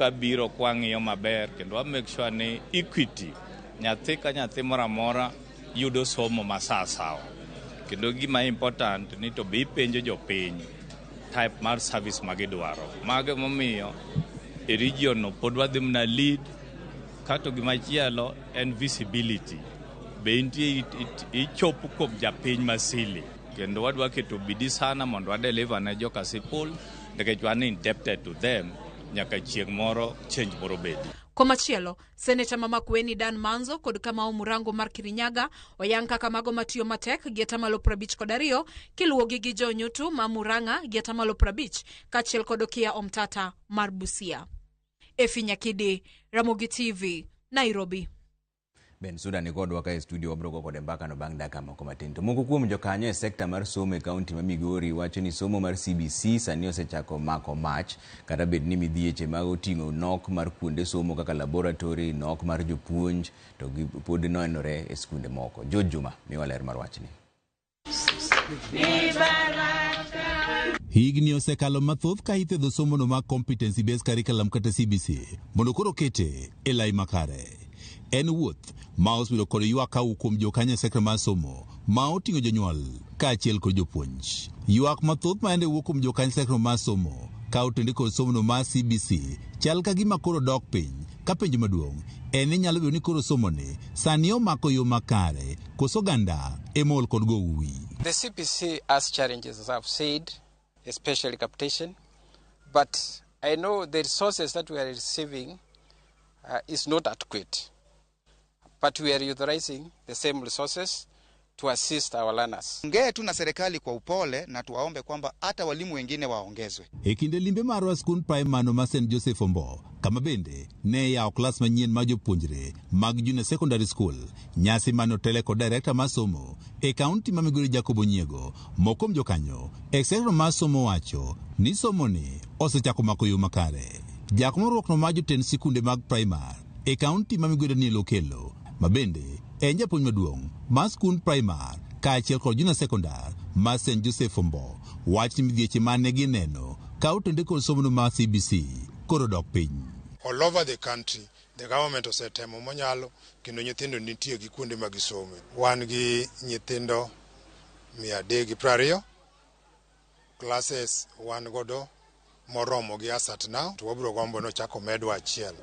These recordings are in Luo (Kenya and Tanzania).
Kabiro kwa ng'iyo maber kendo wa make sure ni equity nyathi ka nyathi moro amora yudo somo ma sawasawa kendo gima important ni to be ipenjo jopiny type mar service ma gidwaro mago emomiyo e region no pod wadhi mna lead kato gimachielo en visibility be nitie ichop kuom japiny masili kendo wadwa keto bidi sana mondo wadeliver ne joka sipul Nikech wan indebted to them nyaka chieng' moro change moro bedi. Komachielo, seneta ma Makueni Dan Manzo kod Kamau Murango mar Kirinyaga oyang kaka mago matiyo matek gi atamalo prabich kod ariyo kiluwogi gi Joe Nyutu ma Murang'a gi atamalo prabich kaachiel kod Okiya Omtata mar Busia. Efi Nyakidi, Ramogi TV, Nairobi. Ben Suda ni kodwa ka e studio wabiro go kode mbaka no bang' dakika moko matin. To moko kuom jokanyo e sekta mar somo e kaunti ma Migori wacho ni somo mar CBC sani osechako mako mach kata bed ni midhieche ma oting'o nok mar kuonde somo kaka laboratory, nok mar jopuonj to gi pod nenore e skunde moko. George Juma miwa ler mar wachni. Higni osekalo mathoth ka ithedho somono mar competency based curriculum kata CBC mondo koro kete e lai makare. En wuoth ma osebedo kod ywak kawu kuom jokanyo sekta mar somo ma oting'o jonyuol kaachiel kod jopuonj. Ywak mathoth ma ende wuok kuom jokanyo sekta mar somo ka otende kod somono mar CBC chal ka gima koro dok piny ka penjo maduong' en ni nyalo bedo ni koro somoni sani omako yo makare Koso ganda ema ool kod gowi. The CPC has challenges, as I've said, especially capitation. But I know the resources that we are receiving uh, is not adequate. But we are utilizing the same resources to assist our learners. Ongee tu na serikali kwa upole na tuwaombe kwamba hata walimu wengine waongezwe. E kinde limbe marwa skund primano ma St Joseph Ombo, kama bende ne yawo klas manyien ma jopuonjre mag Junior Secondary School Nyasi mane otele kod direkta mar somo e kaunti ma Migori Jacob Onyiego, moko kuom jokanyo e sekta mar somo wacho ni somoni osechako mako yo makare. Jakom riwruokno mar jotend sikunde mag primar e kaunti ma Migori Daniel Okello ma bende en japuonj maduong' mar skund primar kaachiel kod junior sekondar mar St Joseph Ombo wach ni midhieche mane gineno ka otenore kod somono mar CBC koro odok piny. All over the country, The government osetemo monyalo kendo nyithindo nitie gi kuonde ma gisome. Wan gi nyithindo mia adek gi piero ariyo classes wan godo moromo gi as at now to wabiro gombo nochak omedwa achiel.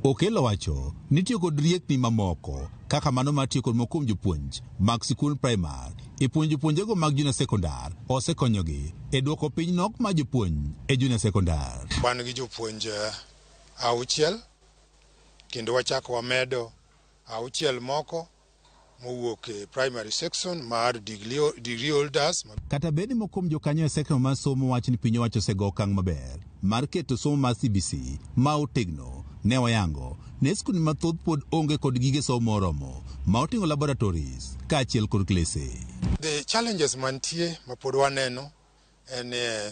Okello owacho ni tiyo kod riekni mamoko kaka mano mar tiyo kod moko kuom jopuonj mag sikund primar e puonjo jopuonjego mag junior sekondar osekonyogi e duoko piny nok mar jopuonj e junior sekondar. Wan gi jopuonj auchiel kendo wachako wamedo auchiel moko mowuok e primary section mar degree holders. Kata bed ni moko kuom jokanyo e section mar somo wacho ni piny owacho osego okang' maber mar keto somo mar CBC ma otegno, ne wayango ne skunde mathoth pod onge kod gige somo moromo ma oting'o laboratories kaachiel kod klese. The challenges mantie ma pod waneno en eh,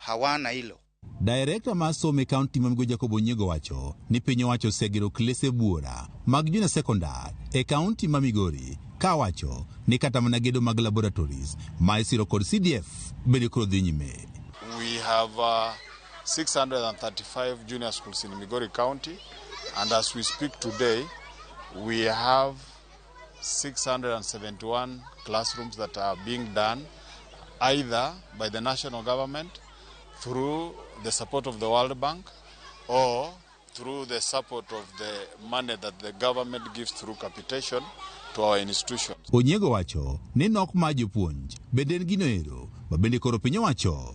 hawana hilo. Director mar somo e kaunti ma Migo Jacob Onyigo wacho ni piny owacho osegero klese buora mag junior secondary e kaunti ma Migori ka wacho ni kata mana gedo mag laboratories ma isiro kod CDF bende koro dhi nyime. We have uh, 635 junior schools in Migori County and as we speak today we have 671 classrooms that are being done either by the national government through the support of the World Bank or through the support of the money that the government gives through capitation to our institutions. Onyego wacho ni nok mar jopuonj bende en gino ero ma bende koro piny owacho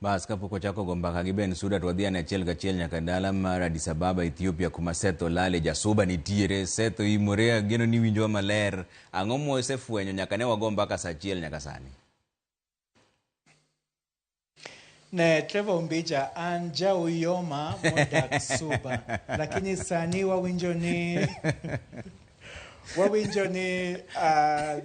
Bas kapok wachako go mbaka gi Ben Suda to wadhi ane achiel kachiel nyaka dala mar Addis Ababa Ethiopia kuma Seth Olale jasuba nitiere. Seth oimore ageno ni winjowa maler. Ang'o mosefwenyo nyaka ne wago mbaka saa achiel nyaka sani? Ne Trevor Ombija an ja Uyoma modak Suba lakini sani wawinjo ni wawinjo ni uh,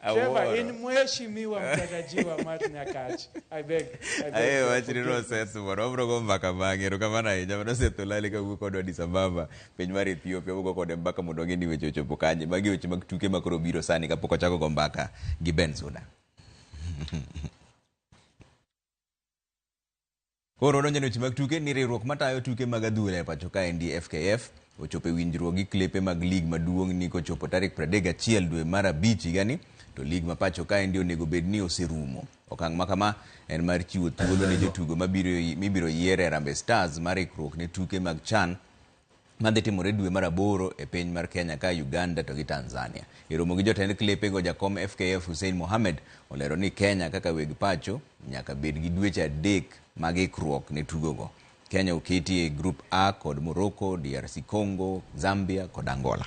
Trevor Awuoro. in mheshimiwa mtarajiwa Matt Nyakach. I beg. I beg Aye, your wach ni forgiveness. nonsense moro wabro go mbaka bang'e erokamano ahinya mano setholali ka wuok kodwa Addis Ababa piny mar Ethiopia wugo kode mbaka mondo wang'e ni weche ochopo kanye magi weche mag tuke ma koro biro sani kapok ochako go mbaka gi Ben Suda Koro wadonjo e weche mag tuke ni riwruok matayo tuke mag adhula e pacho ka endi FKF ochopo e winjruok gi klepe mag lig maduong' ni kochopo tarik 31 dwe mar abich higani to lig ma pacho ka endi onego bed ni oserumo. Okang' ma kama en mar chiwo thuolo ne jotugo mibiro yier e Harambee Stars mar ikruok ne tuke mag CHAN madhi timore dwe mar aboro e piny mar Kenya ka Uganda to gi Tanzania. E romo gi jotend klepe go jakom FKF Hussein Mohamed olero ni Kenya kaka weg pacho nyaka bed gi dweche adek mag ikruok ne tugogo. Kenya oketi e grup A kod Morocco, DRC Congo, Zambia kod Angola.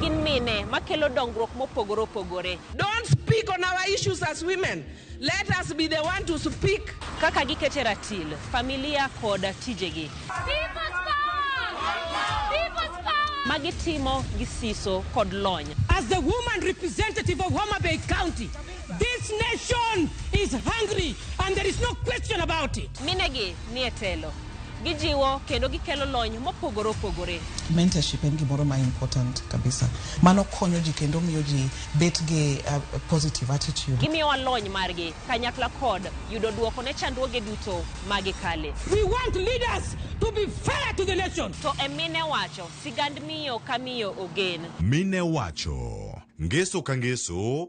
Gin mine makelo dongruok mopogore opogore. Don't speak on our issues as women. Let us be the one to speak. Kaka gikete ratil, familia kod tijegi. People's power! People's power! Ma gitimo gi siso kod lony. As the woman representative of Homa Bay County, This nation is hungry and there is no question about it. Minegi ni e telo. Gijiwo kendo gikelo lony mopogore opogore. Mentorship en gimoro ma important kabisa. Mano konyo ji kendo miyo ji bet gi uh, positive attitude. Gimiyowa lony margi kanyakla kod yudo duoko ne chandruoge duto ma gikale. We want leaders to be fair to the nation. To e mine wacho, sigand miyo ka miyo ogen. Mine wacho, ngeso ka ngeso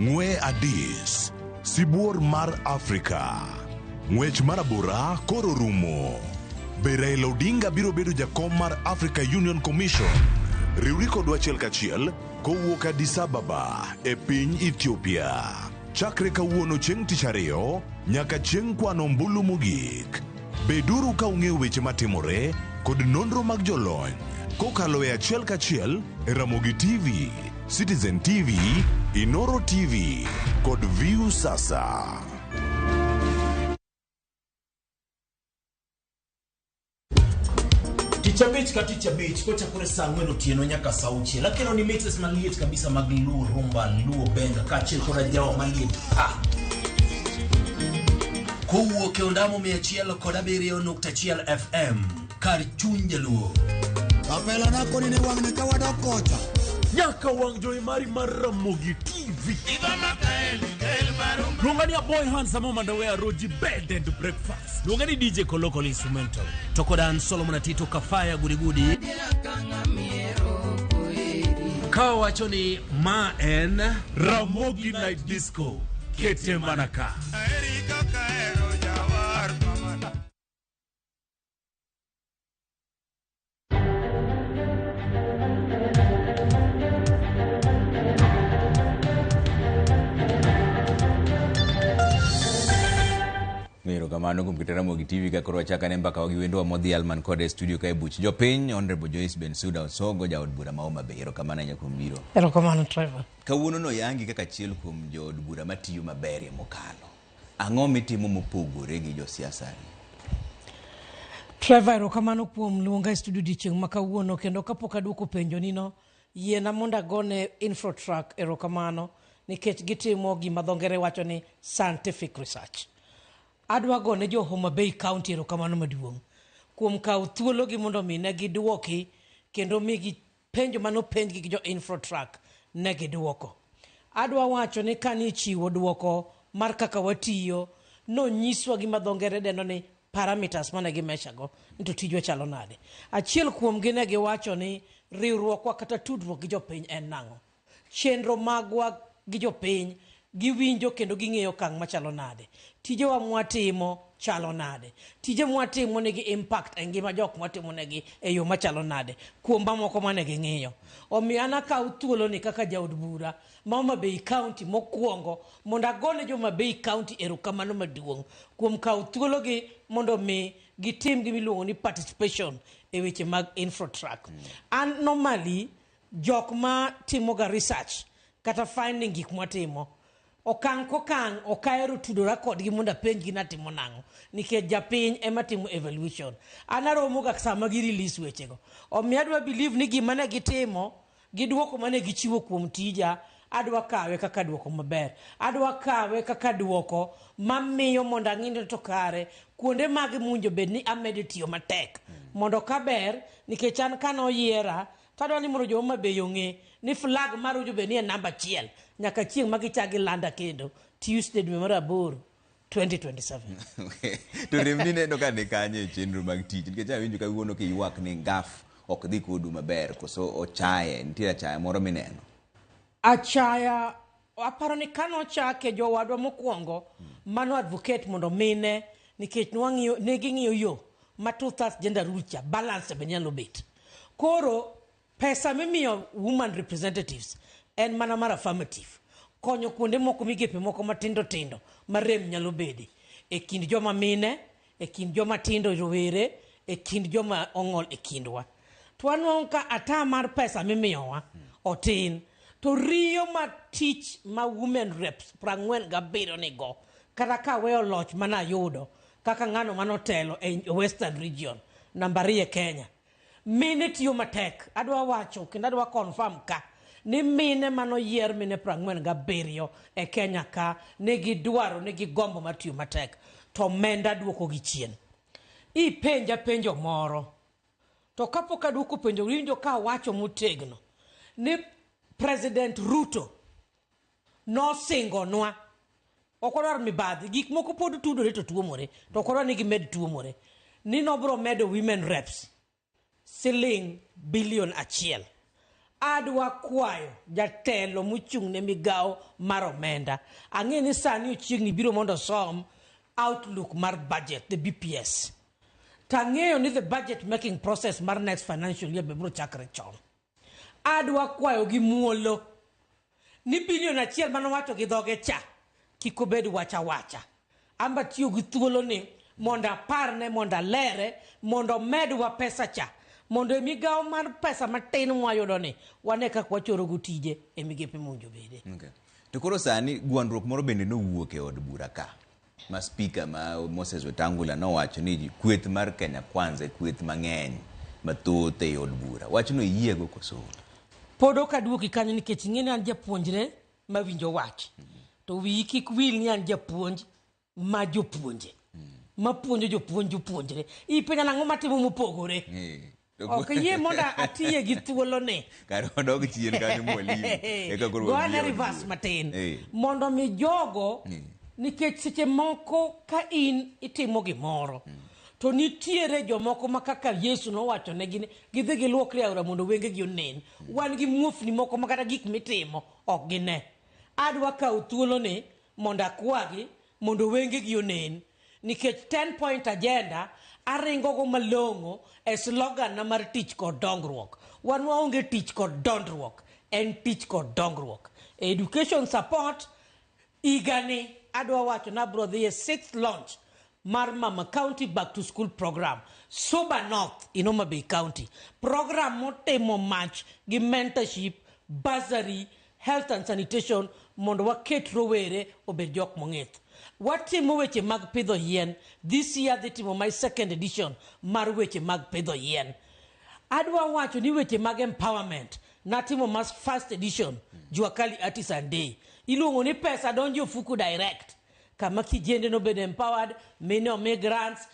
Ng'we Adis, sibuor mar Afrika. Ng'wech mar abora koro rumo. Be Raila Odinga biro bedo jakom mar Africa Union Commission? Riwri kodwa achiel kachiel kowuok Addis Ababa e piny Ethiopia. Chakre kawuono chieng' tich ariyo nyaka chieng' kwano ombulu mogik. Beduru ka ung'eyo weche matimore kod nonro mag jolony kokalo e achiel kachiel e Ramogi TV, Citizen TV, Inoro TV kod View Sasa. Tich abich ka tich abich kochakore saa ang'wen otieno nyaka saa auchiel akelo ni mixes maliet kabisa mag luo rumba luo benga kaachiel koda jawa maliet ah. Kowuok e ondamo 100.1 FM kar chuny jaluo. Kapela nako nini wang'ni ka wadok kocha. Nyaka wang' jowi mari mar Ramogi TV. Luonga ni Aboy Hans Samo Mandawea Roji Bed and Breakfast. Luonga ni DJ Kolokolo Instrumental. To kod an Solomon Atito Kafaya Gudigudi. Ka wacho ni ma en Ramogi Night Disco. Kete mana ka. kamano kuom kitera mogi tv ka koro wachaka ne mbaka wagi wendwa modhi alman kod e studio ka e buch jopiny honorable joyce bensuda osogo jaod bura ma homa bay erokamano ahinya kuom biro Erokamano Trevor. Kawuono noyangi kaka achiel kuom jood bura matiyo maberie mokalo. Ang'o mitimo mopogore gi josiasani? Trevor, erokamano kuom luonga e studio odiechieng' ma kawuono kendo kapok aduoko penjonino, yiena mondo agone Infrotruck erokamano nikech gitimo gima dho ngere wacho ni scientific research. Adwa gone jo Homa Bay County erokamano maduong' kuom kawo thuologi mondo omi ne gidwoki kendo mi Penjo mane openjgi gi jo Infrotruck ne giduoko. Adwa wacho ni kane ichiwo duoko mar kaka watiyo, nonyiswa gima dho ngere dendo ni parameters mane gi measure go ni to tijwa chalo nade. Achiel kuomgi ne giwacho ni riwruokwa kata tudruok gi jopiny en nang'o. Chenro magwa gi jopiny, giwinjo kendo ging'eyo okang' machalo nade? Tijewa mwatimo chalo nade? Tije mwatimo nigi impact e ngima jok mwatimonegi e yo machalo nade? Kuom mamoko mane ging'iyo. Omiyo an akawo thuoloni kaka jaod bura ma Homa Bay County mokwongo mondo agone jo Homa Bay County erokamano maduong' kuom kawo thuologi mondo mi gitim gimiluongo ni participation e weche mag Infrotruck. An normally Jok ma timoga research kata finding gik mwatimo, okang' kokang' ok ahero tudora kodgi mondo apenjgi ni atimo nang'o nikech japiny ema timo evolution. An aromoga sama gi release wechego. Omiyo adwa believe ni gima ne gitimo gi dwoko mane gichiwo kuom tija, adwa kawe kaka dwoko maber. Adwa kawe kaka dwoko mamiyo mondo ang'i ni to kare kuonde mage mowinjo bed ni amede tiyo matek mondo kaber nikech an kane oyiera To adwaro ni mondo jo Homa Bay ong'e ni flag mar Homa Bay ni e namba achiel nyaka chieng' ma gichak gilanda kendo Tuesday dwe mar aboro 2027. to rem ni neno ka ni kanye e chenro mag tich nikech awinjo kawuono kiywak ni ngaf ok dhi kodu maber koso ochaye nitie achaya moro mineno Achaya Aparo ni ka nochake jowadwa mokwongo mano advocate mondo mine nikech nwang'iyo ne ging'iyo yo ma two thirds gender rule cha balance be nyalo bet. Koro pesa mimiyo woman representatives en mana mar affirmative konyo kuonde moko migepe moko matindo tindo ma rem nyalo bede e kind joma mine e kind joma tindo, rowere, e kind joma ong'ol e kindwa. To wanwang'o ka ata mar pesa mimiyowa otin. To riyo ma tich ma women reps prang'wen gabiriyo nigo, kata ka aweyo loch mana ayudo kaka ng'ano manotelo e Western region, namba ariyo e Kenya. Mine tiyo matek. Adwa wacho kendo adwa confirm ka ni mine manoyier mine prang'wen gabiriyo e Kenya ka nigi dwaro nigi gombo mar tiyo matek to omenda duoko gi chien. Ipenja penjo moro to kapok aduoko penjo winjo ka awacho motegno ni President Ruto nosingonwa ok wadwar mibadhi gik moko pod tudore to tuomore to ok wadwar ni gimed tuomore ni nobro medo women reps siling bilion achiel adwa kwayo jatelo mochung' ne migawo mar omenda ang'e ni sani ochiegni biro mondo osom outlook mar budget the bps tang'eyo ni the budget making process mar next financial year be biro chakre chon Adwa kwayo gi muolo ni billion achiel mane owacho gi dhoge cha kik obed wach awacha. An be atiyo gi thuolo ni mondo aparne, mondo alere, mondo omedwa pesa cha mondo e migawo mar pesa matin mwayudo ni wane kaka wachoro go tije e migepe mowinjo bede. Okay. To koro sani gwandruok moro bende nowuok e od bura ka. ma speaker ma Moses Wetangula nowacho ni kweth mar Kenya Kwanza e kweth mang'eny mathoth ei od bura. Wachno iyiego koso? Pod ok aduoki kanyo nikech ing'e ni an japuonjre ma winjo wach. To wiyi kik wil ni an japuonj ma jopuonje. Ma puonjo jopuonj jopuonjre. Ipenja nang'o matimo mopogore. Eh, Ok ayie mondo atiye gi thuoloni. Kare wadog chien kanyo mwalimu. Eka koro Gone wabiro reverse jiwo. matin. Eh. Mondo mi jogo Eh. nikech seche moko ka in itimo gimoro to nitiere jomoko ma kaka yesu nowacho negi ni gidhi giluokre aora mondo wengegi onen wan gi muofni moko ma kata gik mitimo ok gine adwa kawo thuoloni mondo akwagi mondo wengegi onen nikech ten point agenda aringogo malong'o e slogan na mar tich kod dongruok wan waonge tich kod dondruok en tich kod dongruok e education support igani adwa wacho ni abro dhi e sixth launch mar mama county back to school program suba north in homabay county program motimo mach gi mentorship bursary Health and Sanitation mondo waket rowere obed jok mong'ith. Watimo weche mag pidho yien. This year adhi timo my second edition mar weche mag pidho yien. Adwa wacho ni weche mag empowerment natimo mas first edition Jua Kali Artisan Day. Iluongo ni pesa donjo ofuku direct. kama kijende nobed empowered mine omi grants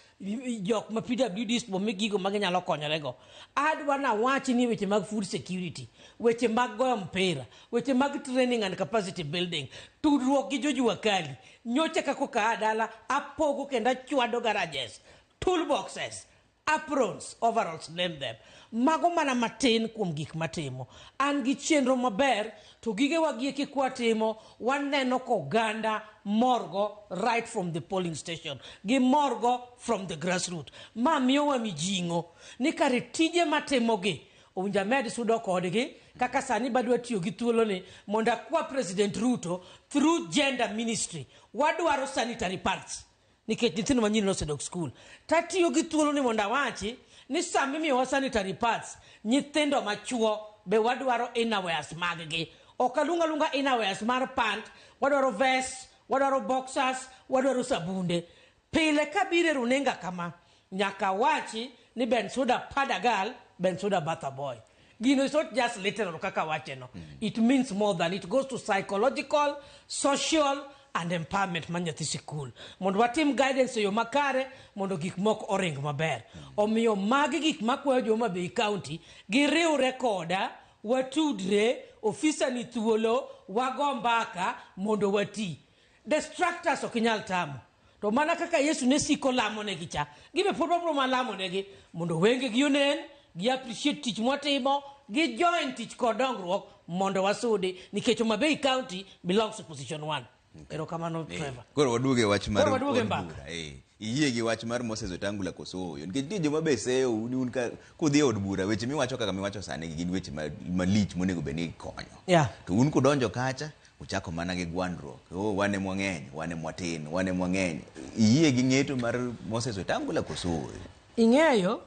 jok ma PWDs bomi gigo ma ginyalo konyorego. Adwa nawach ni weche mag food security, weche mag goyo mpira, weche mag training and capacity building, tudruok gi jojua kali. Nyocha kaka okaa dala apogo kendo achwado garages, tool boxes, aprons, overalls, name them. Mago mana matin kuom gik matimo. An gi chenro maber to gige wagieki kwa timo waneno ko ganda morgo right from the polling station gi morgo from the grassroot. Ma miyo wa mijingo ni kare tije matimo gi owinja med sudo kodgi kaka sani badwa tiyo gi thuolo ni mondo akwa president Ruto through gender ministry wadwaro sanitary pads nikech nyithindo manyiri nosedok skul tatiyo gi thuoloni mondo awachi ni sama imiyowa sanitary pads nyithindo machuo be wadwaro innerwears maggi ok aluong aluonga innerwears mar pant wadwaro vest wadwaro boxers wadwaro sabunde pile kabiro e runinga kama Nyaka awachi ni Bensouda pad a girl, Bensouda bath a boy. Gino is not just literal kaka awache no. It means more than it goes to psychological, social and empowerment mar nyathi sikul. Mondo watim guidance e yo makare mondo gik moko oring maber. Omiyo magi gik makwayo jo Homa Bay County giriwre koda watudre, ofisa ni thuolo, wago mbaka mondo wati. Destructors ok inyal tamo. To mana kaka Yesu ne siko lamonegi cha, gibe pod wabiro mana lamonegi mondo wengegi onen, gi appreciate tich mwatimo, gi join tich kod dongruok mondo wasudi nikech Homa Bay County belongs to position 1. Erokamano Eh, Trevor. Koro waduog e wach mar Koro waduog e od mbaka. bura, eh. Iyie gi wach mar Moses Wetangula koso ooyo? Nikech nitie joma be seyo un un ka kudhi e od bura weche miwacho kaka miwacho sani gi gin weche ma- malich monego bed ni ikonyo. Yeah. To un kudonjo kacha Ochako mana gi gwandruok, oh, wan em wang'eny, wan em watin, wan em wang'eny. Iyie gi ng'eto mar Moses Wetangula koso ooyo? Ing'eyo,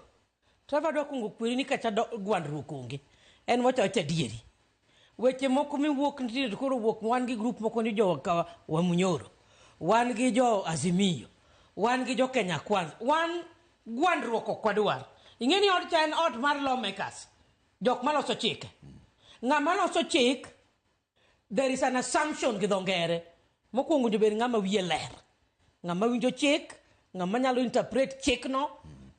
Trevor adwa kwongo kweri ni kacha do- gwandruok onge. En wacho wacha adieri. Weche moko miwuok nitie to koro wuok wan gi grup moko ni jo ka- Wamunyoro, wan gi jo Azimio, wan gi jo Kenya Kwanza, wan gwandruok ok wadwar. Ing'e ni od cha en ot mar lawmakers, jok maloso chike. Ng'ama loso chik There is an assumption gi dho ngere. Mokwongo nyobed ng'ama wiye ler. Ng'ama winjo chik, ng'ama nyalo interpret chikno,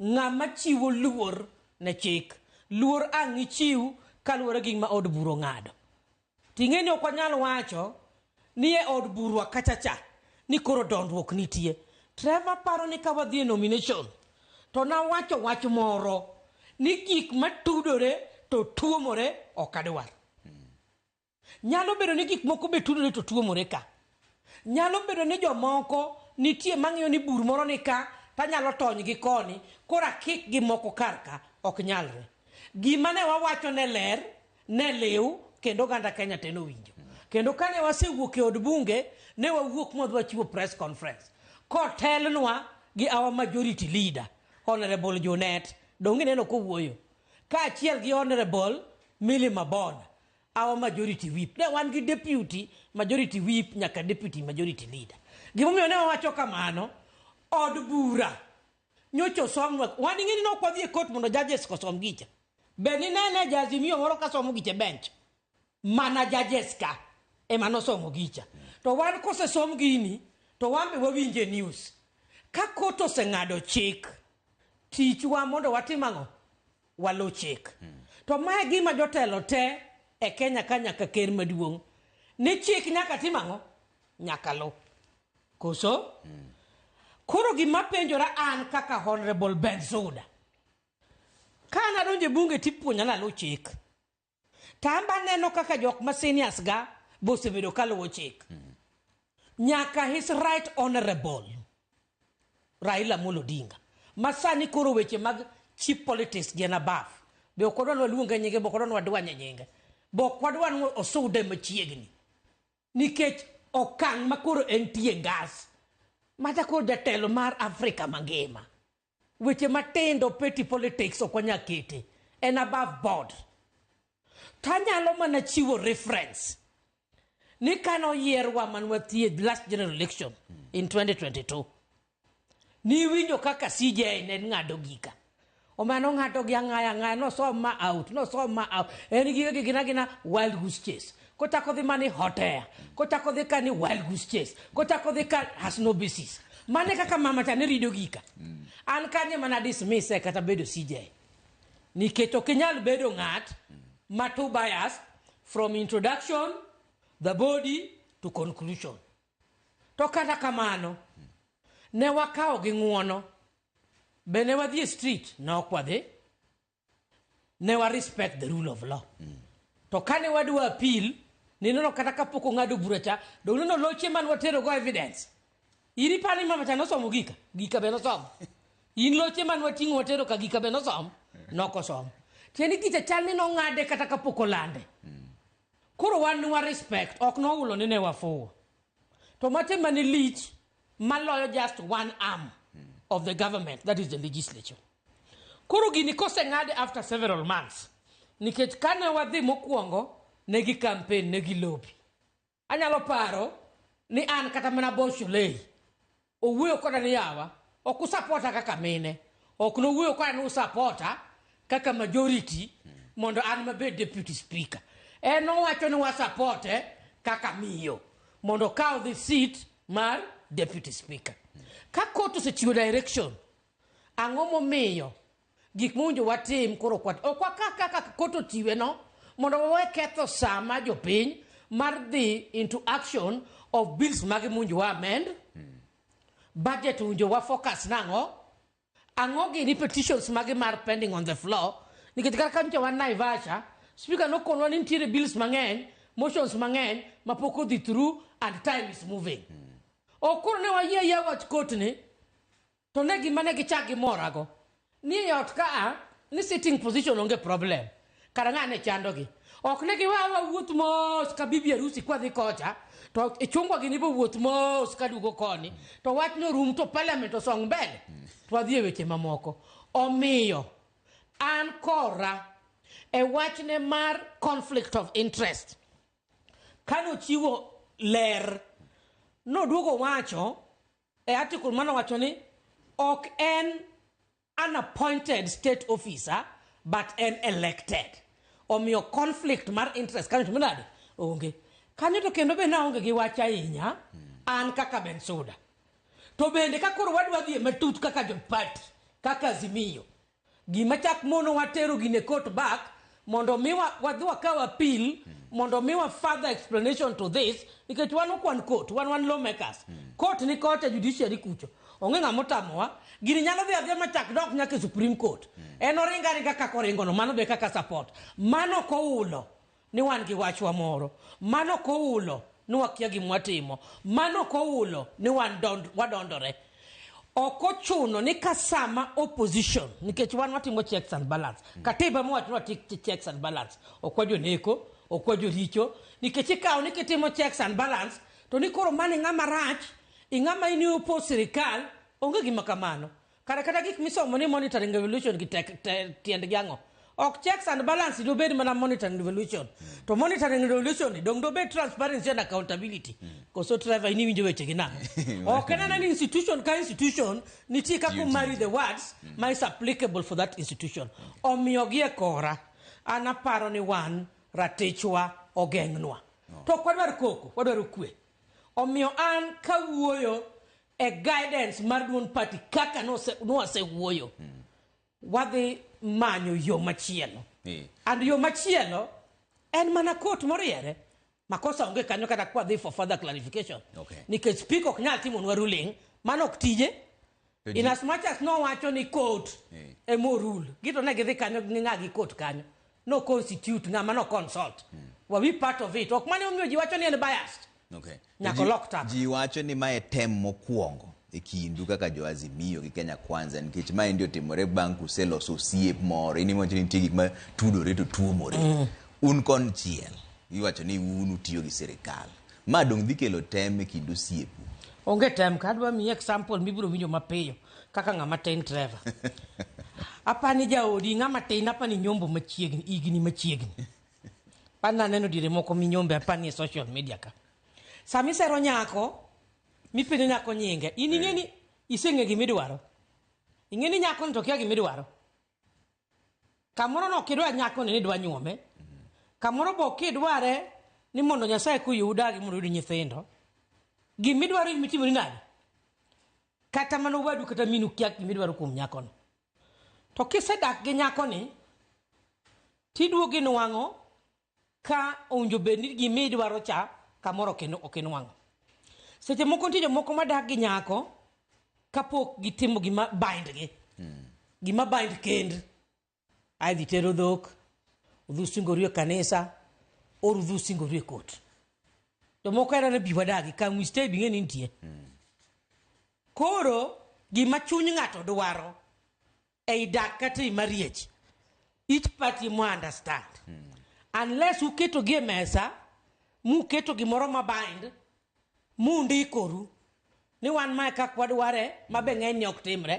ng'ama chiwo luor ne chik. Luor ang' ichiw kaluwore gi gima od bura ong'ado. Ting'e ni ok wanyal wacho ni e od burwa kacha cha ni koro dondruok nitie. Trevor paro ni ka wadhi e nomination to nawacho wach moro ni gik matudore to tuomore ok adwar. Nyalo bedo ni gik moko be tudore to tuomore ka. Nyalo bedo ni jomoko nitie mang'iyo ni bur moro ni ka to anyalo tony gi koni koro akik gi moko kar ka. Ok nyalre. Gima ne wawacho ne ler, ne liw kendo oganda Kenya te nowinjo. Kendo kane wasewuok e od bunge, ne wawuok ma wadhi wachiwo press conference kotelnwa gi our majority leader Honourable Junet. Donge ineno kowuoyo? Kaachiel gi Honourable Milly Mabona, our Majority Whip. Ne wan gi Deputy Majority Whip nyaka Deputy Majority Leader. Gimomiyo ne wawacho kamano, od bura nyocha osomnwa, wan ing'e ni ne ok wadhi e court mondo judges osom gicha. Be ninene ja Azimio moro ka somo gicha e bench? mana judges ka ema nosomo gicha to wan kosesom gini to wan be wawinje e news ka kot oseng'ado chik tichwa mondo watim ang'o waluw chik to mae gima jotelo te e kenya ka nyaka ker maduong' ni chik nyaka tim ang'o nyaka luw koso koro gima penjora an kaka honorable bensuda ka nadonjo e bunge tipuonja naluw chik To an be aneno kaka jok ma seniors ga be osebedo ka luwo chik. Nyaka his right honorable Raila Amolo Odinga ma sani koro weche mag cheap politics gi en above. Be ok wadwa ni waluonge nyinge, be ok wadwa ni wadwanye nyinge. Be ok wadwa ni osude machiegni. Nikech okang' ma koro entie ngas. Mata koro jatelo mar Afrika mangima. Weche matindo petty politics ok wanyal kete en above board. To anyalo mana chiwo reference ni kane oyierwa man wathiedh last general election in 2022 niwinjo kaka CJ ne ng'ado gika omano ng'ato gi ang'aya ang'aya nosom ma out nosom ma out en gi gigina gina wild goose chase Kochako dhi mani hotea, kochako dhi kani wild goose chase, kochako dhi ka has no basis. Mane kaka mama cha ne rido gika. An kanye mana dismiss e kata bedo CJ. Nikech ok inyal bedo ng'at ma too biased from introduction, the body to conclusion. To kata kamano, ne wakawo gi ng'uono. Be ne wadhi e street? Ne ok wadhi. ne wa respect the rule of law mm. to kane wadwa appeal nineno kata kapok ong'ado bura cha dong neno loche man watero go evidence iri pani mama cha nosomo gika gika be nosomo in loche man wating'o watero ka gika be nosomo nokosomo tieni gicha chal ni nong'ade kata kapok olande mm. koro wan ni wa respect ok nohulo ni ne wafuwo To mate mane lich maloyo just one arm of the government that is the legislature. Koro gini koseng'ade after several months nikech kane wadhi mokwongo ne gi campaign ne gi lobi. Anyalo paro ni an kata mana Bosholei Owuoyo koda ni yawa, ok usapota kaka mine, ok nowuoyo koda ni usapota kaka majority mondo an mabed deputy speaker. En owacho ni wasapote kaka miyo mondo okaw the seat mar deputy speaker. Ka court osechiwo direction, ang'o momiyo Gik mowinjo watim koro kwat. Ok waka kaka kot ochiwe no mondo wawe ketho saa ma jopiny mar dhi into action of bills magi mowinjo wa amend. Budget owinjo wa focus nang'o? Ang'o gini petitions magi mar pending on the floor? Nikech kar ka nyocha wan Naivasha, speaker nokonwa ni nitiere bills mang'eny, motions mang'eny ma pok odhi through and time is moving. Ok koro ne wayie ayia wach kot ni To ne gima ne gichak gimorago ni e ot ka a ni sitting position onge problem. Kara ng'a ne chandogi. Ok ne giwe awa wuoth mos ka bibi harusi kwadhi kocha to e chungwa gini bo wuoth mos ka duogo koni to wach no rum to parliament osong mbele to wadhi e weche mamoko. Omiyo an kora e wachne mar conflict of interest kane ochiwo ler noduogo wacho e article mano wacho ni ok en an appointed state officer but en elected omiyo conflict mar interest kanyo to minade onge kanyo to kendo be naonge gi wach ahinya an kaka bensuda to bende ka koro wadwa dhie matut kaka jopati kaka azimio Gima chak monowa tero gine court back mondo mi wa- wadhi wakaw appeal mondo mi wa further explanation to this nikech wan okwan court wan wan lawmakers court ni kocha judiciary kucho onge ng'ama otamowa gini nyalo dhi adhiya machak dok nyaka e supreme court en oringa ringa kaka oringono mano be kaka support mano koulo Ni wan gi wachwa moro. Mano ok oulo ni wakia gima watimo. Mano ok oulo ni wan dond, wadondore. Ok ochuno ni ka sama opposition, nikech wan watimo checks and balance. Katiba mowacho ni watik checks and balance. Ok wajoneko, ok wajoricho. Nikech ikawo ni kitimo checks and balance, to ni koro mano ing'ama rach, ing'ama in i oppose sirikal. Onge gima kamano. kare kata gik misomo ni monitoring evolution gi tek te, tiendgi ang'o ok checks and balance dobed mana monitoring evolution to monitoring evolution ni dong dobed transparency and accountability koso trevor in iwinjo wechegi nang'o ok en anani institution ka institution nitie kaka omari the words ma is applicable for that institution omiyo gi e kora an aparo ni wan ratichwa ogeng'nwa to ok wadwar koko wadwaro kwe omiyo an kawuoyo e guidance mar duond party kaka nwasewuoyo wadhi manyo yo machielo eh. and yo machielo en mana kot moriere makosa onge kanyo kata kwadhi for further clarification okay. nikech speak ok nyal timonwa ruling mano ok tije in as much as nowacho ni kot eh. emorul gito ne gidhi kanyo ging'a gi kot kanyo no constitute ng'ama no consult hmm. were we part of it ok mane omiyo ji wacho ni en biased Okay. Nyaka Ji- olok tap. Ji wacho ni mae tem mokwongo e kindu kaka jo Azimio gi Kenya Kwanza nikech mae ndi otimore bang' kuseloso osiep moro. In iwacho ni nitie gik ma tudore to tuomore. Mm. Un konchiel iwacho ni un utiyo gi sirikal. Ma dong' dhi kelo tem e kind osiepu. onge tem ka adwa miyi example mibiro winjo mapiyo kaka ng'ama tin trevor apani jaodi ng'ama tin apani nyombo machiegni igni machiegni An naneno diere moko minyombe apani e social media ka. Sama isero nyako, mipenjo nyako nyinge, in ing'e ni iseng'e gima idwaro. Ing'e ni nyako ni to kia gima idwaro. Kamoro no kidwa nyako ni ni idwa nyuome. Kamoro bo kidware ni mondo Nyasaye kuyi udagi mondo uyud nyithindo. Gima idwaro in mitimoni nade? Kata mana owadu kata minu kia gima idwaro kuom nyako no. To kisedak gi nyakoni, tiduogo inwang'o ka owinjo bed ni gima idwaro cha kamoro ok in- ok inwang'o. Seche moko nitie jomoko madak gi nyako kapok gitimo gima bindgi. Gima bind kend. Ae dhi tero dhok, udhi usingori e kanisa, or udhi usingori e kot. Jomoko era ni bi wadagi, can we stay bing'e ni nitie. Koro gima chuny ng'ato dwaro ei dak kata ei mariech each party mo understand unless uketo gi e mesa muketo gimoro ma bind mundikoru ni wan mae kak wadware ma be ng'eny ne ok timre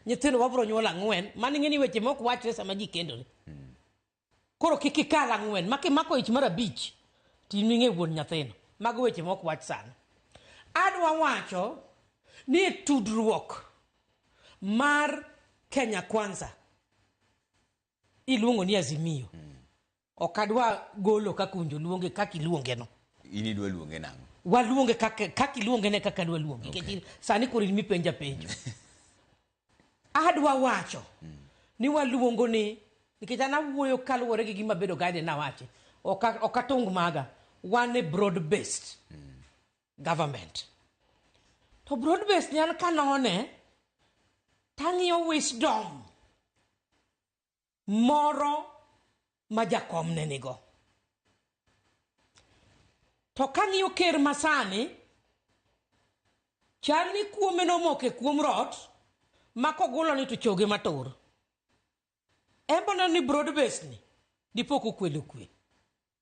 nyithindo wabro nyuol ang'wen mano ing'e ni weche mok wachre sama ji kendore Koro kik ikal ang'wen. Ma kimako ich mar abich to in ming'e wuon nyathino. Mago weche mok wach sani. Adwa wacho ni e tudruok mar Kenya Kwanza iluongo ni Azimio. Ok adwa golo kaka owinjo luonge kaka iluonge no. In idwa luonge nang'o? Waluonge kaka kaka iluonge ne kaka adwa luonge. Okay. Nikech sani koro in mipenja penjo. Adwa wacho ni waluongo ni nikech an awuoyo kaluwore gi gima bedo guide nawachi ok a- ok atung maga wan e broad based government to broad based ni an kanone tang'iyo wisdom moro ma jakom ne nigo to kang'iyo ker masani chal ni kuome nomoke kuom rot ma kogulo ni to choge matur embo neno ni broad base ni dipo kokwelo kwe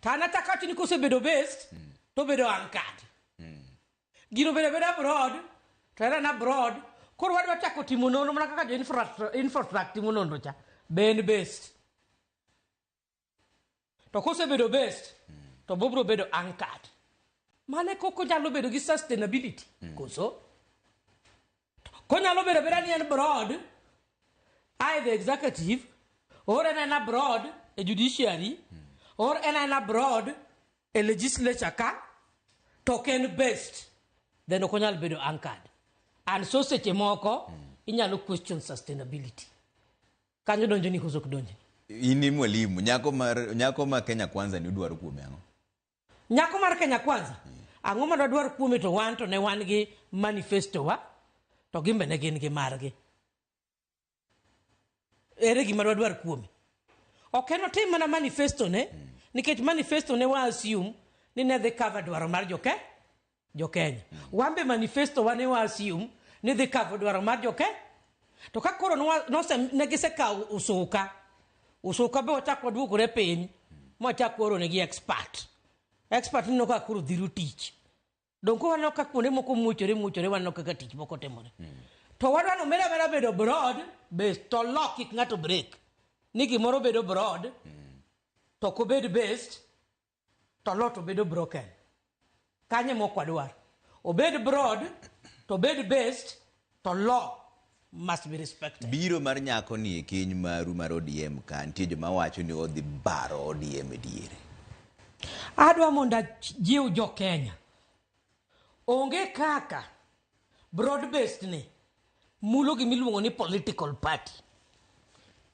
To an achako awacho ni kosebedo based mm. to obedo anchored. Mm. Gino bedo bedo abroad to era na abroad koro wadwa chako timo nonro mana kaka jo infrastructure timo nonro cha ben based to kosebedo based mm. to bobro bedo anchored mane koko nyalo bedo gi sustainability mm. koso Konyalo bedo abeda ni en broad, I the executive, or en aena broad e judiciary, or en aena broad e legislature ka, to ok en based, then ok onyal bedo anchored. And so seche moko, inyalo question sustainability. Kanyo donjo ni koso ok donjo ni. In ni mwalimu, nyako mar nyako ma Kenya Kwanza ni udwaro kuome ang'o? Nyako mar Kenya Kwanza, ang'o ma dwadwar kuome to wan to ne wan gi manifesto wa to gimbe ne gin gi margi. Ere gima dwadwar kuome? Ok en otim mana manifesto ne nikech manifesto ne wa assume ni ne dhi cover dwaro mar joke jokenya wan be manifesto wa ne wa assume ni dhi cover dwaro mar jokenya to ka koro nwa- nose- ne gisekawo usuka usuka be wachak waduogore piny mwachak waoronegi expert expert nino ka koro dhiro tich donko waneno ka kuonde moko muochore muochore waneno kaka tich moko timore to wadwa ni omera mera bedo broad based to lock kik ng'ato break ni gimoro bedo broad to ok obed based to lot to bedo broken. Kanye mok wadwar. Obed broad to obed based to law must be respected. Biro mar nyako ni e keny maru mar ODM ka nitie joma wacho ni odhi baro ODM e diere. Adwa mondo jiw jo Kenya. Onge kaka Broad based ni mulo gima iluongo ni political party.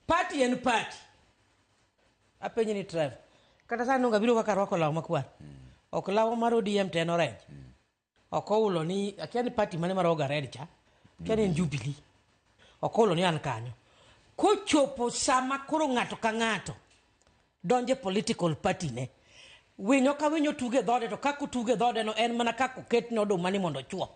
Party en party. Apenyi ni Trevor. Kata sani onge biro kaka rwako law makwar. Ok law mar ODM to en orange. Ok oulo ni akia ni party mane mar Oga Red cha. Akia ni en Jubilee. Ok oulo ni an kanyo. Kochopo sama koro ng'ato ka ng'ato donje political party ne winyo ka winyo tuge dhode to kako tuge dhode no en mana kako ket ne oduma ni mondo chuo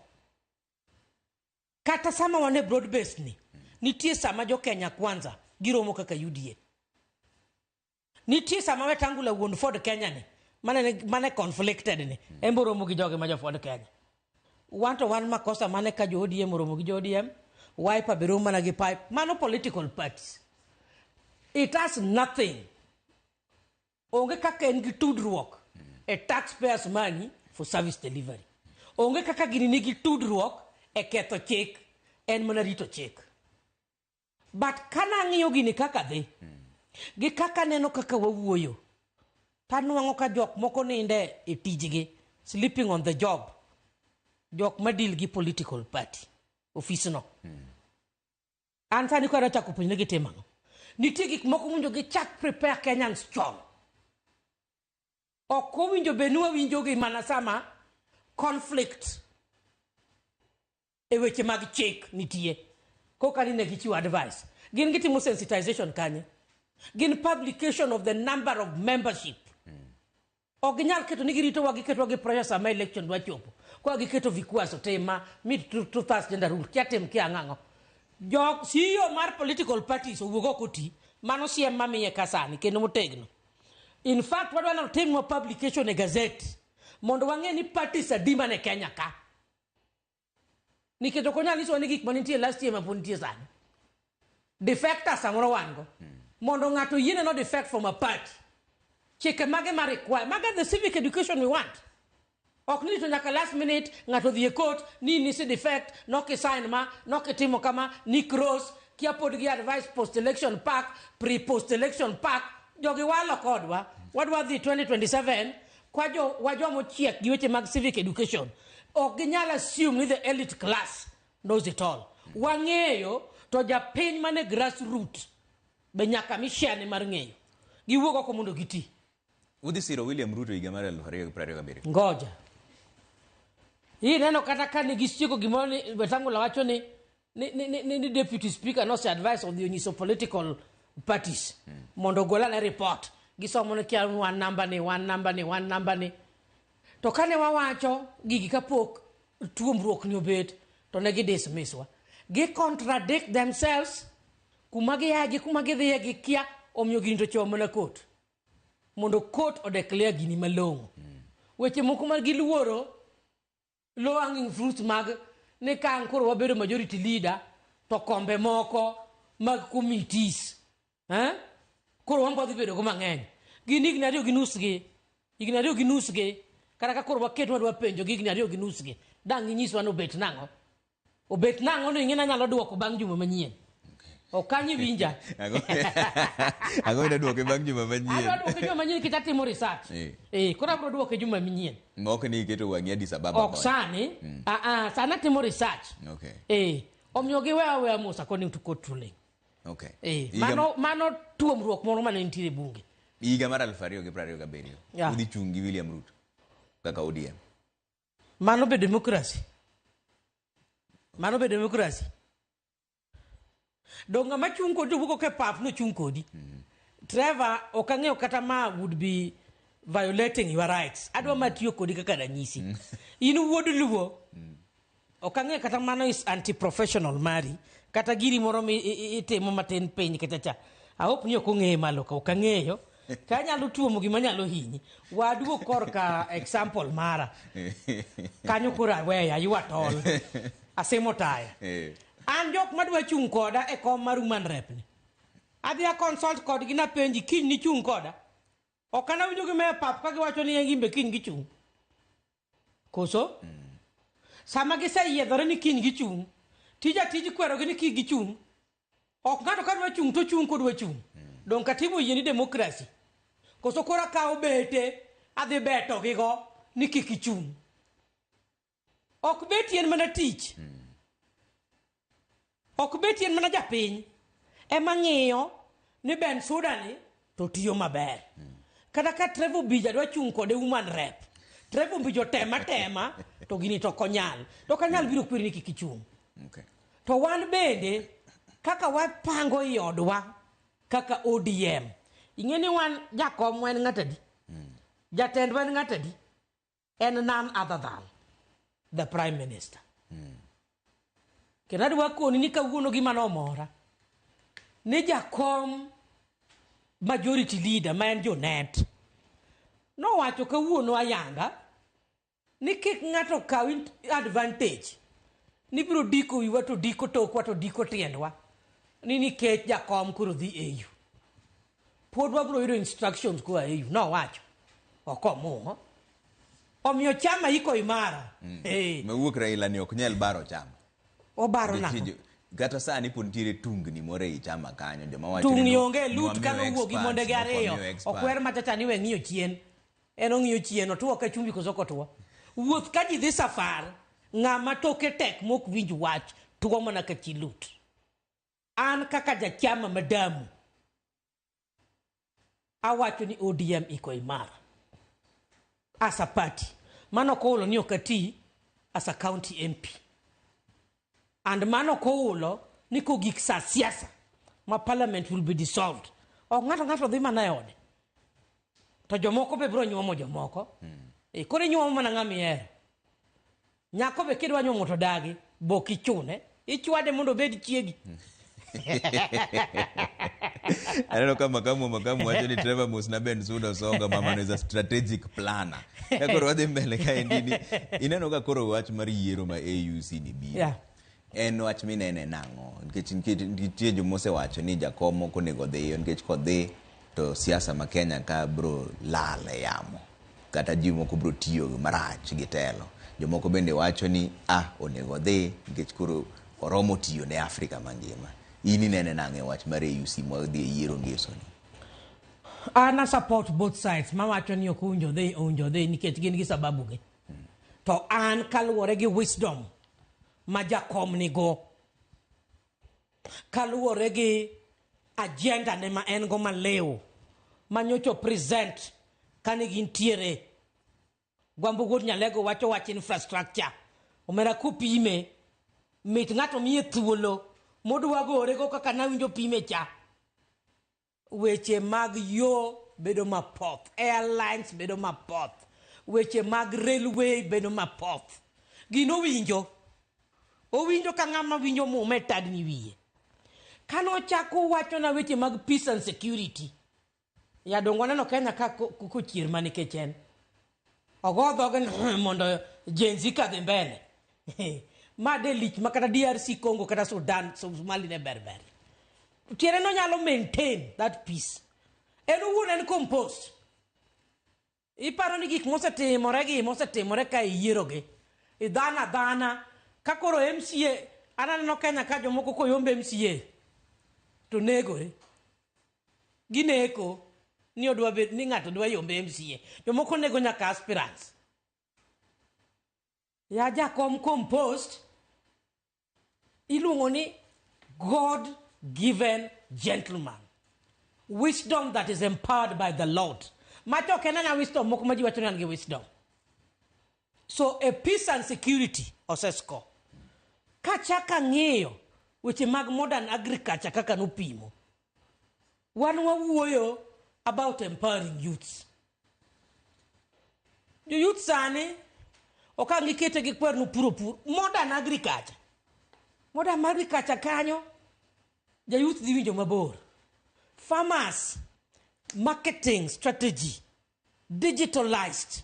kata sama wane broad based ni nitie sama jo Kenya kwanza giromo kaka UDA nitie sama wetangula wuon Ford Kenya ni mane mane conflicted ni emboromo gi jogi ma jo Ford Kenya Wan to wan makosa mane ka jo ODM oromo gi jo ODM, Wiper be romo mana gi pipe. Mano political parties. It has nothing. Onge kaka en gi tudruok e taxpayers money for service delivery. Onge kaka gini nigi tudruok e ketho chik. En mana rito chik. But kane ang'iyo gini kaka dhi, gi kaka aneno kaka wawuoyo, to anwang'o ka jok moko ninde e tijgi, sleeping on the job. Jok ma deal gi political party, ofisno. An sani koro achako puonjre gitimo ang'o. Nitie gik moko mowinjo gichak prepare Kenyans chon. Ok owinjo bed ni wawinjogi mana sama conflict e weche mag chik nitie koka ni ne gichiwo advice gin gitimo sensitization kanye gin publication of the number of membership ok ginyal keto ni giritowa giketowa gi pressure sama election dwa chopo kwa giketo vikwaso tema mit to to thas gender rule kia tim kia ang'ang'o jok CEO mar political parties owuog ok oti mano siem mamiye kasani kendo motegno in fact wadwa ni otimnwa publication e gazette mondo wang'e ni parties adi man e Kenya ka nikech ok onyal nyisowa ni gik mane nitie last year ma pod nitie sani defectors samoro wan go mondo ng'ato yiene no defect from a party chike mage ma require mage the civic education we want ok ni to nyaka last minute ng'ato dhi e court ni nisi defect nokisign ma nokitimo kama ni cross kia pod gi advice post election pack pre post election pack jogi walo kodwa wadwa dhi 2027 Kwa jo wa joma ochiek gi weche mag civic education ok ginyal assume ni the elite class knows it all. Wang'eyo to japiny mane grassroot be nyaka mi share ne mar ng'eyo. Giwuog oko mondo giti. Udhi siro William Ruto higa mar 2027. Ngoja. Hii neno kata ka ne gisieko gimoro ni Wetangula wacho ni ni, ni, ni, ni, ni deputy speaker nose advice odhi onyiso political parties mm. mondo ogol ane report gisomo ni kia wan namba ni wan namba ni wan namba ni to kane wawacho gigi kapok tuomruok ni obet to ne gidismiswa gi contradict themselves kuma giyae gi kuma gidhiye gi kia omiyo gini to chomo mana kot mondo kot odeclare gini malong'o mm. weche moko ma giluoro low hanging fruits mag ni ka an koro wabedo majority leader to kombe moko mag committees eh? koro wan kwadhi bedogo mang'eny gin higni ariyo gi nusgi higni ariyo gi nusgi kata ka koro waket wadwa penjo gi higni ariyo gi nusgi dang' inyiswa ni obet nang'o Obet nang'o no ing'e nanyalo duoko bang' juma manyien. Ok kanyo iwinja. Ang'o ang'o ina duoke bang' juma Adwa manyien? duoke juma manyien nikech atimo research. Eh. Eh, koro abro duoke juma manyien. Mok ni iketo wang'i Addis Ababa. Ok kono. sani. Ah ah, sani atimo research. Okay. Eh, omiyo giwe aweya mos according to court ruling. Okay. Eh, Higa- mano mano tuomruok moro mane nitie e bunge. higa mar aluf ariyo gi piero ariyo gabiriyo Yeah. udhi chung' gi William Ruto kaka ODM. Mano be demokrasi? Mano be demokrasi? Dong' ng'ama chung' kodi to wuok oko e pap nochung' kodi. Trevor, ok ang'eyo kata ma would be violating your rights. Adwa ma tiyo kodi kaka ranyisi. In wuod Luo, ok ang'eyo kata mano is anti-professional mari, kata giri moro mi i- i- itimo matin piny kacha cha. I hope ni ok ong'eye malo ka, ok ang'eyo. ka anyalo tuomo gima nyalo hinyi waduo korka example mara kanyo koro aweya aywa tol asimo taya Eh. an jok madwa chung' koda e kom mar human rep ni adhi a consult kodgi napenji kiny nichung' koda ok anawinjo gi me pap ka giwacho ni en gimbe kiny gichung' Koso? Mm. Sama giseyiedhore ni kiny gichung', tij atij kwerogi ni kik gichung'. Ok ng'ato ka dwa chung' to chung' kodwa chung'. Mm. Donge katiba oyie ni demokrasi? Koso koro akawo bete adhi beto gigo ni kik gichung'. Ok beti en mana tich. Mm. Ok beti en mana japiny ema ng'iyo ni Ben Suda ni to tiyo maber. Kata ka Trevor Bija dwa chung' kode woman rep. Trevor Bija tema tema to gini to konyal. To kanyal biro kwiri ni kik ichung'. Okay. To wan bende kaka wapango i odwa kaka ODM. Ing'e ni wan jakom wan ng'atadi. Jatendwa en ng'atadi. en nan other than the prime minister mm. kendo adwa koni ni kawuono gima nomora ni jakom majority leader ma en jonet nowacho kawuono ayanga ni kik ng'ato kaw advantage ni biro diko wiwa to diko tokwa to diko tiendwa ni nikech jakom koro dhi au pod wabiro yudo instructions koa e yu nowacho okomuho omiyo chama iko imara mm. hey. mewuok raila ni ok nyal baro chama obaro na kata sani pod nitiere tungni moro ei chama kanyo joma wacho tungni onge lut kano wuok gi monde gi ariyo okwer matata ni we ng'iyo chien en ong'iyo chien otuwo ka chumbi koso kotuwo wuoth ka ji dhi safar ng'ama toke tek mok winj wach tuwo mana ka chi lut An kaka jachama madamu awacho ni ODM iko imara as a party. Mano ok oulo ni ok ati as a county MP. And mano ok oulo ni kogik sa siasa ma parliament will be dissolved. Ok ng'ato ng'ato dhi mana e ode. To jomoko be biro nyuomo jomoko. E, koro inyuomo mana ng'ama ihero. Nyako be kidwa nyuomo to dagi, be ok ichune. Ichwade mondo obed chiegi. aneno ka makamu makamu wacho ni trevor musna ben suda osonga mamano is a strategic planner ka koro wadhi mbele kaendi ni ineno ka koro wach mar yiero ma auc ni biro yeah. En wach minene nang'o? Nikech nikech nitie joma osewacho ni jakom ok onego odhiyo nikech kodhi to siasa ma Kenya ka bro lal e yamo. Kata ji moko bro tiyo marach gi telo. Jomoko bende wacho ni ah onego odhi nikech koro oromo tiyo ne Afrika mangima. In inene nang'o e wach mar AUC ma odhi e yiero ngeso ni? An a support both sides mawacho ni ok owinjo odhi owinjo odhi nikech gin gi sababugi. To an kaluwore gi wisdom ma jakom nigo, kaluwore gi agenda ne ma en go maliw ma nyocha present kane gintiere gwambo wuod nyalego wacho wach infrastructure omera kupime mit ng'ato miye thuolo modwa gore go kaka nawinjo pime cha Weche mag yo bedo mapoth, airlines bedo mapoth, weche mag railway bedo mapoth. Gino owinjo, owinjo ka ng'ama winjo muma e tadni wiye. Kane ochako owachona weche mag peace and security, ya donge waneno Kenya ka kochier ma nikech en. ogo dhoge ni mondo jenzi kadhi mbele ma de lich ma kata drc congo kata sudan somali ne berber tiere nonyalo maintain that peace en owuon en compost iparo ni gik mosetimore gi mosetimore ka iyierogi idhana dhana ka koro mca ananeno kenya ka jomoko koyombe mca to negore Gineko ni odwa bet ni ng'ato dwa yombe MCA. Jomoko nego nyaka aspirants. Ya jakom compost iluongo ni God given gentleman. Wisdom that is empowered by the Lord. Macho ok en anya wisdom moko ma ji wacho ni an gi wisdom. So a peace and security osesko. Kachaka ng'iyo weche mag modern agriculture kaka nopimo Wan wawuoyo about empowering youths. Jo youth sani ok ang' ikete gi kwer nupuro pur. Modern agriculture. Modern agriculture kanyo ja youth dhi winjo mabor. Farmers, marketing strategy, digitalized.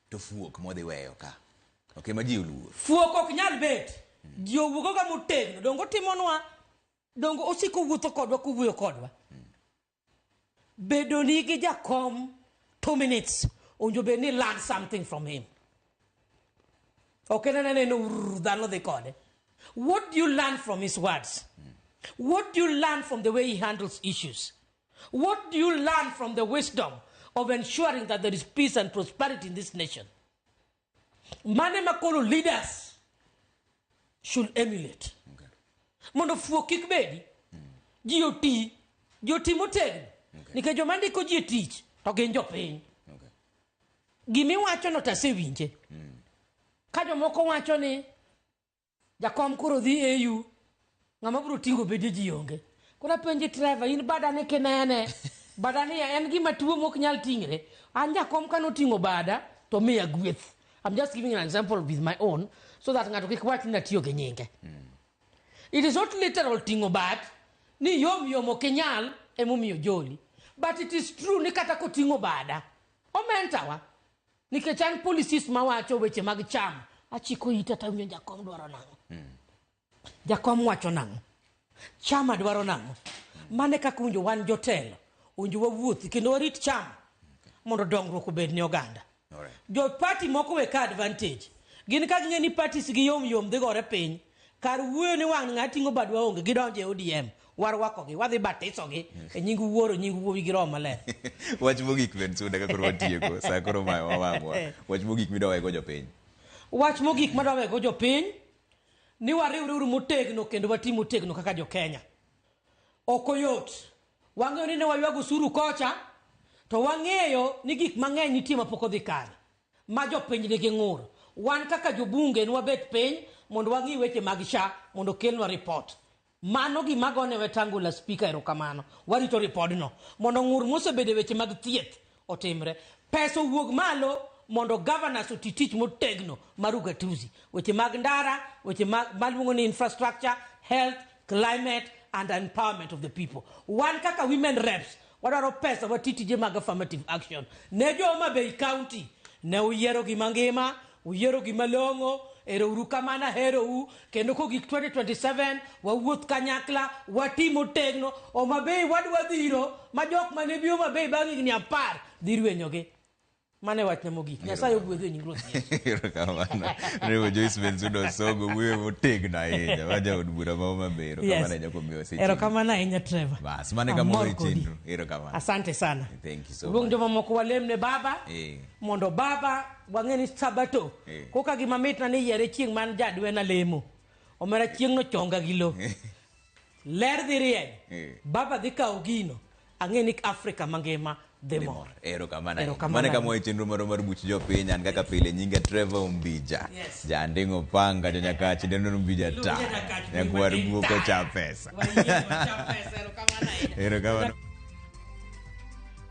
To fuok modhi weyo ka. Okay, ma ji oluor. Fuok ok nyal bet. Mm. Ji owuogo ga motegno. Dongo timonwa. Dongo osiko wuotho kodwa kuwuoyo kodwa. Mm. Bedo ni gi jakom two minutes. Onjo be ni learn something from him. Okay, na na na no dhano dhi kode. What do you learn from his words? Mm. What do you learn from the way he handles issues? What do you learn from the wisdom of ensuring that there is peace and prosperity in this nation? Mane makolo leaders should emulate. Okay. Mondo fuo kik bedi, mm. ji oti, ji oti motegno. Okay. Nikech joma ndiko ji e tich, to gin jopiny. Okay. Gimiwachono to asewinje. Mm. Ka jomoko wacho ni Jakom koro dhi AU. Ng'ama biro tingo bede ji onge. Koro apenji treva in badane kinene. Badane ya en gima tuo mok nyal tingre. An jakom kano tingo bada to miya gweth. I'm just giving an example with my own so that ng'ato kik wach ni natiyo gi nyinge. Mm. It is not literal tingo bad ni yom yom ok inyal emomiyo joli. But it is true ni kata kotingo bada. Omentawa. nikech an policies mawacho weche mag cham achiko ita tawinjo jakom dwaro nang'o jakom wacho nang'o chama dwaro nang'o mane kaka winjo wan jotelo winjo wawuothi kendo warit chama mondo dongruok obed ne oganda jo party moko we ka advantage gin ka ging'e ni parties gi yom yom dhi gore piny Kar wuoyo ni wang' ng'a ting'o bad waonge gidonjo e ODM. Warwakogi, wadhi batisogi e nying wuoro, nying wuowi gi roho maler. Wach mogik Ben Suda ka koro watieko, saa koro mayo wawang'wa. Wach mogik midwa wego jopiny. Wach mogik madwa wego jopiny ni wariwre uru motegno kendo wati motegno kaka jo Kenya. Ok oyot. Wang'eyo ni ne waywago usuru kocha to wang'eyo ni gik mang'eny nitie mapok odhi kare. ma jopiny nigi ng'ur. Wan kaka jobunge nwabet piny mondo wang'i weche mag sha mondo okelnwa report. Mano gima agone Wetangula Speaker erokamano. Warito ripodno mondo ng'ur mosebedo e weche mag thieth otimre. Pesa owuog malo mondo governors oti tich motegno mar ugatuzi. Weche mag ndara, weche mag maluongo ni infrastructure, health, climate and empowerment of the people. Wan kaka women reps Wadwaro pesa wati tije mag affirmative action ne jo Homa Bay County. Ne uyiero gima ngima, uyiero gima long'o. Ero uru kamano, aherou. Kendo kogik 2027 wawuoth kanyakla, wati motegno. Homa Bay wadwa dhiro ma jok mane bi Homa Bay bang' higni apar dhi rwenyogi. Mano e wachna mogik. Nyasaye ogwedhu e nying Ruoth Yesu. Erokamano. Revo Joyce Bensuda Osogo wuoyo motegno ahinya. Ma jaod bura ma Homa Bay. Erokamano Yes. ahinya kuom miwa seche. Erokamano ahinya Trevor. Bas, mano e kama Amor wawe kodi. chenro. Erokamano. Asante sana. Thank you so Luong much. jomamoko walem ne Baba Eh. mondo Baba wang'e ni Sabato Eh. koka gima mitna ni yiere chieng' man jadwena lemo. Omera chieng'no chonga gi lo. Ler dhi rieny. Eh. Baba dhi kawo gino. Ang'e ni Afrika mangima dhi mor. Erokamano. Erokamano. Mane kama wae chenro moro mar buch jopiny an kaka pile nyinga Trevor Umbija. Yes. Jandingo panga to nyaka chindeno Umbija Iluonge ta. nyaka chindeno Nyakwar Umbija guoko ta. cha pesa. Wayie, wacham pesa, erokamano ahinya. Erokamano.